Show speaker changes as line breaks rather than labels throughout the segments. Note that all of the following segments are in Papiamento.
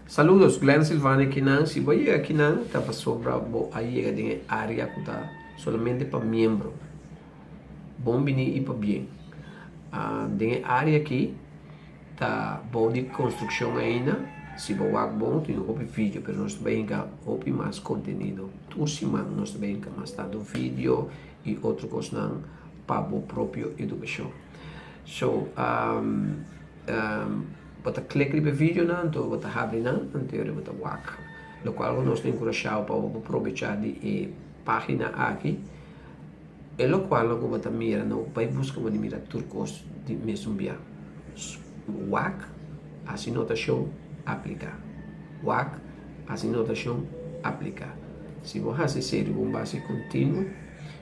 Saludos, Glen Silvani aki nan. Si bo a yega aki nan ta pasobra bo a yega den e area cu ta solamente pa miembro. Bon bini y pabien. Den e area aki. Ta bou di construccion ainda? Si bo wak bon tin hopi video pero nos ta bai hinca hopi mas contenido tur siman nos ta bai hinca mas tanto video y otro cosnan pa bo propio educacion so um um bo ta click riba e video nan anto bo ta habri nan anto ora bo ta wak locual nos ta encurashabo pa bo probecha di e pagina aki. E lokual lo ku bo ta mira no bai buska bo di mira tur kos di mesun bia. Wak hasi notashon apliká. Wak hasi notashon apliká. Si bo hasi esei riba un base kontinuo,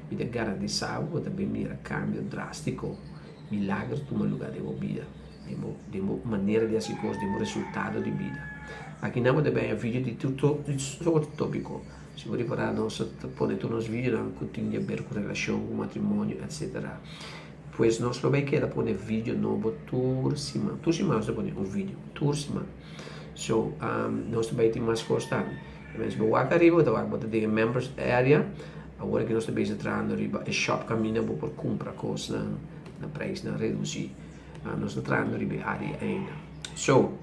mi ta garantisá bo bo ta bin mira kambio drástiko, milager tuma lugá den bo bida, den bo den bo manera di hasi kos, den bo resultado di bida. Akinan bo ta bihaya video di tur sort di tópiko. Si bo repará, nos a pone tur nos vidanan ku tin di aber ku relashon, ku matrimonio, etc. Pues nos lo bai keda pone video nobo tur siman. Tur siman nos ta pone un video, tur siman. So, nos ta bai tin mas kos tambe. E mester bo wak ariba, bo ta wak bota den e Members Area. Awor aki nos ta bisa trahando riba e shop kaminda bo por kumpra kosnan na preisnan redusí. Ah, nos ta trayendo riba e área ainda. So,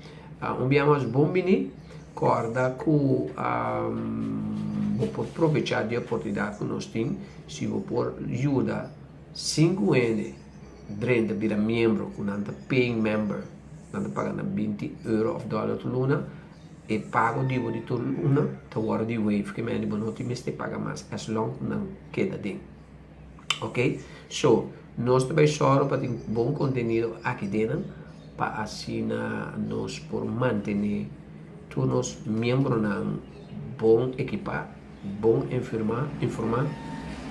ah, un bia mas bon biní. Corda cu um, bo por provechá di oportunidad cu nos tin si bo por yuda sinku hende drenta bira miembro cu nan ta paying member. Nan ta paga nan 20 euro of dollar tur luna. E pago di bo di tur luna ta worde di wave. Kemende bo no tin mester paga mas as long cu nan keda den. Ok, so nos ta bay sòru pa tin bon kontenido aki dena pa asina nos por mantené tur nos miembronan bon ekipá, bon infirmá, informá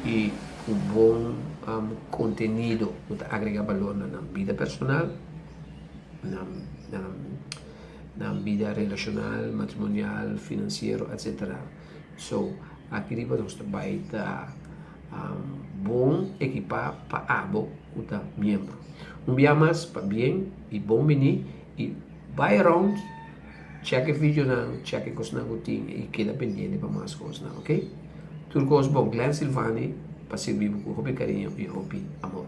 i ku bon um kontenido ku ta agregá balor na nan bida personal, na na nan bida relashonal, matrimonial, finansiero, etsetera. So, aki riba nos ta bai ta bon ekipá pa abo ku ta miembro. Un bia mas, pabien i bon biní i bai around, chèk e videonan, chèk e kosnan ku tin i keda pendiente pa mas kosnan, ok? Tur kos bon, Glen Silvani pa sirbi bo ku hopi kariño i hopi amor.